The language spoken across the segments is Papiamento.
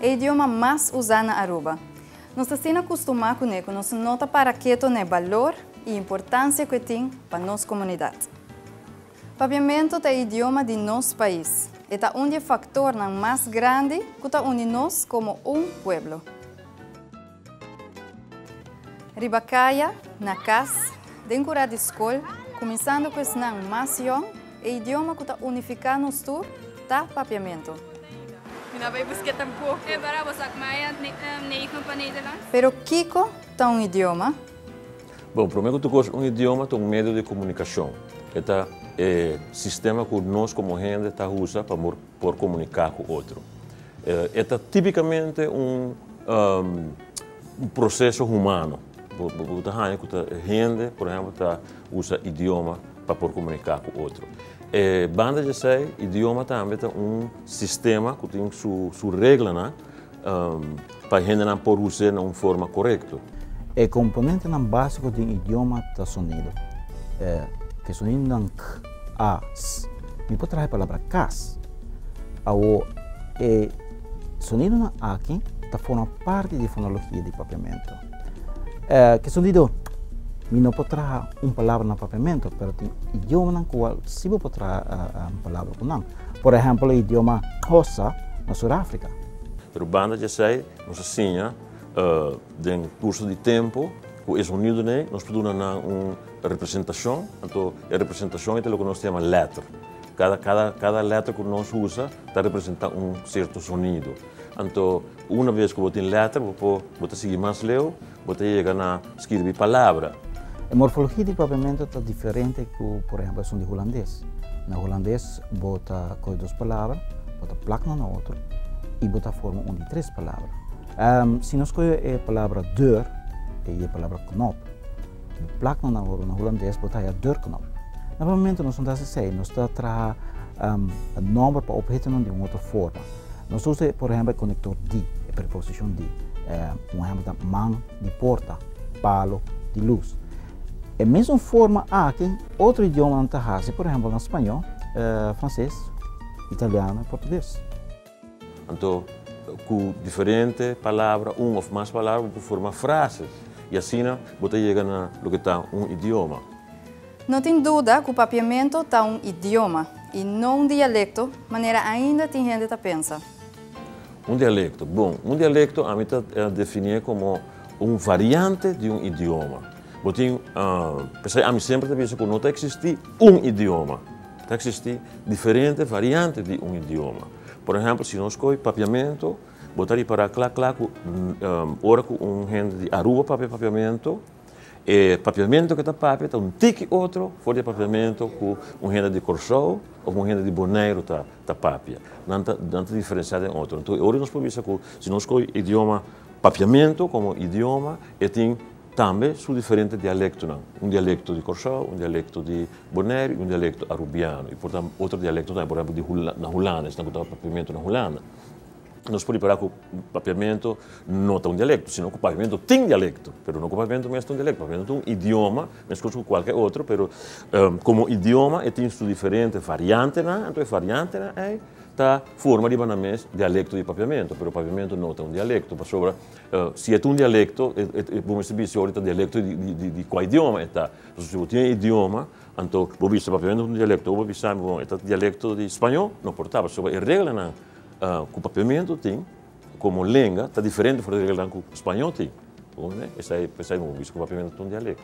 E idioma mas usá na Aruba. Nos ta asina kustumá kuné ku nos no ta para keto na e balor i importansia ku e tin pa nos komunidat. Papiamentu ta e idioma di nos pais. E ta un di e faktornan mas grandi ku ta uni nos komo un pueblo. Riba kaya, na kas, den kura di skol, kuminsando ku esnan mas yòn, e idioma ku ta unifiká nos tur ta Papiamentu. Mi no a bai busk'é tampoko. E para bo sak maya neigen pa Nederlands? Pero kiko ta un idioma? Bon, promé ku tur kos, un idioma ta un medio di komunikashon. E ta e sistema ku nos komo hende ta usa pa. por comunica cu otro. E ta tipicamente un proceso humano. Bo ta haya cu ta hende, por ehemplo, ta usa idioma pa por comunica cu otro. Banda di esey, idioma tambe ta un sistema cu tin su reglanan. pa hendenan por us'é na un forma korekto. E komponentenan básiko den idioma ta sonido. Ke sonidonan k, a, s. Mi por traha e palabra kas. Awo, e sonidonan aki ta forma parti di fonologia di papiamentu. Eh, keson di dor. Mi no por traha un palabra na papiamento, pero tin idiomanan ku al si bo por traha un palabra ku nan. Por ehèmpel e idioma Xhosa na Surafrika. Pero banda di esei, nos a siña den kurso di tempu ku e zonidonan ei nos por duna nan un representashon. Anto e representashon ei ta loke nos ta yama lèter. Kada, kada, kada lèter ku nos usa ta representá un sierto zonido. Anto, una bes ku bo tin lèter, bo por bo ta sigui mas leu, bo ta yega na skirbi palabra. E morfologia di papiamentu ta diferente ku por ehèmpel esun di hulandes. Na hulandes bo ta kohe dos palabra, bo ta plak na un na otro i bo ta forma un di tres palabra. Si nos kohe e palabra deur i e palabra knop, bo plak na un na otro, na hulandes bo ta haja deurknop. Na papiamentu nos no ta hasi esei, nos ta traha nòmber pa obhetonan di un otro forma. Nos ta usa, por ehempel, e konektor di, e preposishon di. Un ehempel ta, man di porta, palu di lus. E mesun forma aki otro idiomanan ta hasi, por ehempel, na spañó, franses, italiano i portuges. Anto, ku diferente palabra, un òf mas palabra, bo por forma frases i asina bo ta yega na loke ta un idioma. No tin duda ku Papiamento ta un idioma, i no un dialekto, manera ainda tin hende ta pensa. Un dialekto? Bon, un dialekto ami ta definié komo un variante di un idioma. Bo tin, p'esei ami semper ta bisa ku no ta eksistí un idioma. Ta eksistí diferente variante di un idioma. Por ehèmpel, si nos kohe Papiamento, bo ta ripará kla kla ku ora ku un hende di Aruba papia Papiamento, E papiamentu ke ta papia ta un tiki otro for di e papiamentu ku un hende di Kòrsou òf un hende di Boneiru ta ta papia. Nan ta nan ta diferensiá den otro. Enton e ora nos por bisa ku si nos kohe idioma papiamentu komo idioma e tin tambe su diferente dialektonan. Un dialekto di Kòrsou, un dialekto di Boneiru i un dialekto arubiano. I por otro dialekto tambe, por ehèmpel di na Hulandes nan ku ta papiamentu na Hulanda. Nos por rikordá ku Papiamentu no ta un dialekto, sino ku Papiamentu tin dialekto, pero no ku Papiamentu mes ta un dialekto. Papiamentu ta un idioma meskos ku kualke otro, pero komo idioma e tin su diferente variantenan, anto e variantenan ei ta forma riba nan mes dialekto di Papiamentu. Pero Papiamentu no ta un dialekto, pasobra si e ta un dialekto bo mester bisa si ta un dialekto di kua idioma e ta. Si bo tin e idioma, anto bo bisa Papiamentu ta un dialekto, o bo bisa mi bon e ta dialekto di Spañó, no por ta, pasobra e reglanan Ku Papiamento tin komo lenga ta diferente for di regelnan ku Spañó tin. Esei por esei bo bisa ku Papiamento ta un dialekto.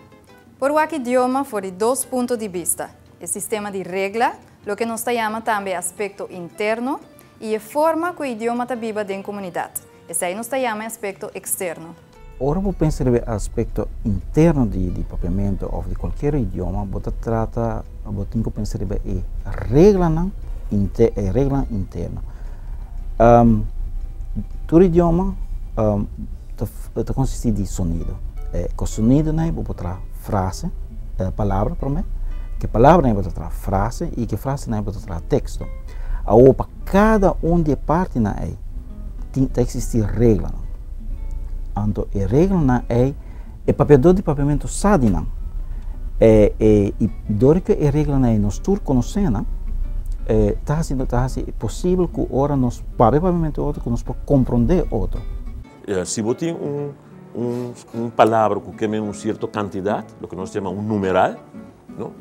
Por wak idioma for di dos punto di bista, e sistema di regla, loke nos ta yama tambe aspekto interno, i e forma ku e idioma ta biba den komunidat. Esei nos ta yama e aspekto eksterno. Ora bo pensa riba e aspekto interno di papiamentu òf di kualkier idioma, bo ta trata, bo tin ku pensa riba e reglanan inte, e reglanan interno. Tur idioma ta ta konsistí di sonido. E ku sonidonan ei bo por traha frase, palabra promé, ku palabranan ei bo ta traha frase i ku frasenan ei bo ta traha teksto. Awo pa kada un di e partinan ei. tin ta existi reglanan. Anto e reglanan ei e papiador di papiamentu sa di nan. E, e, i dor ku e reglanan ei nos tur konosé nan, e, ta hasi, ta hasi posibel ku ora nos papia papiamentu otro ku nos por komprondé otro. Si bo tin un, un, un palabra ku kende un sierto kantidat, loke nos yama un numeral, no,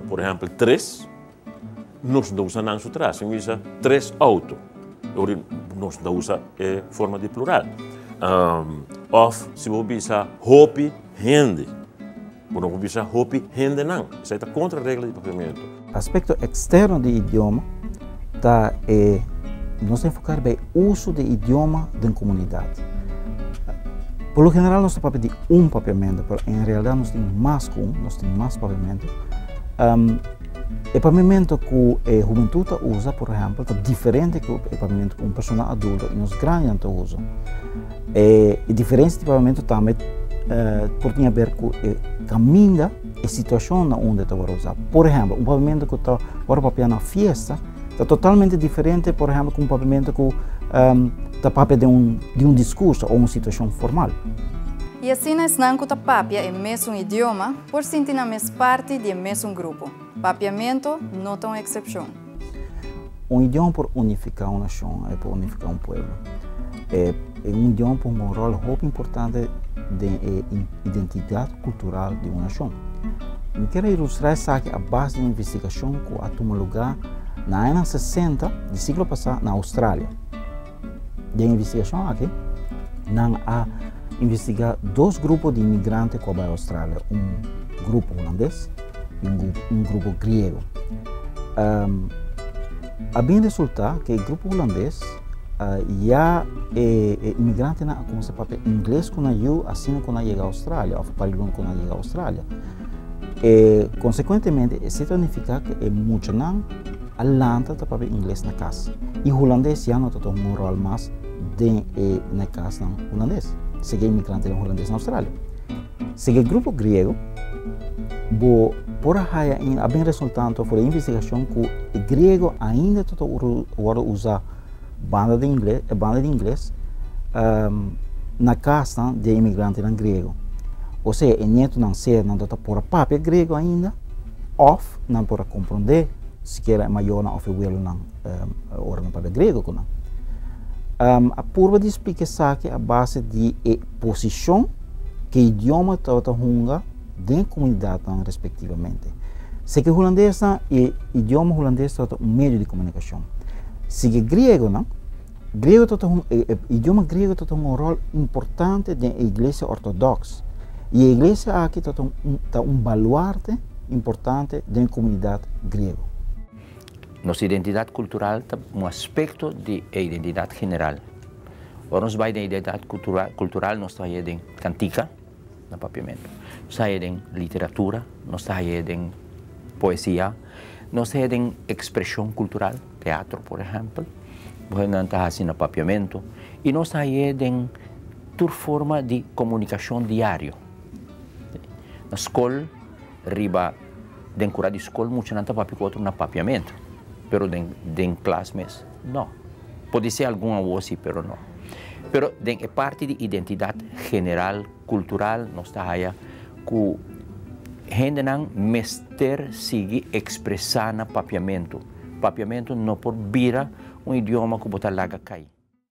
por ehèmpel tres. Nos no usa nan su tras. Sin bisa tres auto. Ori nos no usa e forma di plural. Òf si bo bisa hopi hende. Bo no por bisa hopi hendenan. Esei ta kontra e regla di papiamentu. Aspekto eksterno di idioma ta e nos ta enfoká riba e uso di idioma den komunidat. Por lo general nos ta papia di un papiamentu, pero en realidat nos tin mas ku un, nos tin mas papiamentu. E pamemento ku e humentud ta usa, por ehèmpel, ta diferente ku e pamemento ku un persona adulto i nos grandenan ta usa. E diferensia di pamemento tambe por tin aber ku e kaminda, e situashon na unda e ta wòrdu usá. Por ehèmpel, un pamemento ku ta wòrdu papia na fiesta ta totalmente diferente, por ehèmpel, ku un pamemento ku ta papia di un diskurso o un situashon formal. I asina esnan ku ta papia e mesun idioma Por sinti nan mes parti di e mesun grupo. Papiamentu no ta un eksepshon. Un idioma por unifiká un nashon, e por unifiká un pueblo. E un idioma por hunga un ròl hopi importante den e identidat kultural di un nashon. Mi ker a ilustrá esaki a base di un investigashon ku a tuma lugá na añanan sesenta di siglo pasá na Australia. Den investigashon aki, nan a investigá dos grupo di migrante ku a bai Australia, un grupo hulandes i un grupo griego. A bin resultá ku e grupo hulandes ya e migrantenan a kuminsá papia ingles ku nan yu asina ku nan yega Australia òf pari luna ku nan yega Australia. Konsekuentemente e situ a nifiká ku e muchanan, Alanta ta papia ingles na kas i hulandes ya no ta tuma un ròl mas den e nekasnan hulandes. Sege inmigrantenan hulandes na Australia. Sege grupo griego, bo por a haya in a bin resultanto for e investigashon ku e griego ainda ta wòrdu usá. Banda di ingles, e banda di ingles, ehm, na kasnan di e imigrantenan grego. Osea, e nietonan sea nan ta por a papia grego ainda, òf nan por a komprondé sikiera e mayornan òf e welonan, ehm, ora nan papia grego ku nan. Ehm, a purba di splika esaki a base di e posishon ku e idioma tabata hunga. den e komunidatnan respektivamente. Seki hulandesnan e idioma hulandes tabata un medio di komunikashon. Seki e griegonan, griego tabata un, e, e idioma griego tabata un ròl importante den e iglesia ortodoks. I e iglesia aki tabata un, ta un baluarte importante den e komunidat griego. Nos identidat kultural ta un aspekto di e identidat general. Ora nos bai den identidat kultural nos ta haña den kantika. Na papiamentu. Nos ta haña den literatura, nos ta haña den poesia, nos ta haña den ekspreshon kultural, teatro por ehèmpel, ku hèndenan ta hasi na papiamentu, i nos ta haña den tur forma di komunikashon diario. Na skol, riba den kura di skol muchanan ta papia ku otro na papiamentu, pero den klas mes. No. Podesé algun awor sí, pero no. Pero den e parti di identidat general, kultural, nos ta haya ku hendenan mester sigui ekspresá na papiamentu. Papiamentu no por bira un idioma ku bo ta laga kai.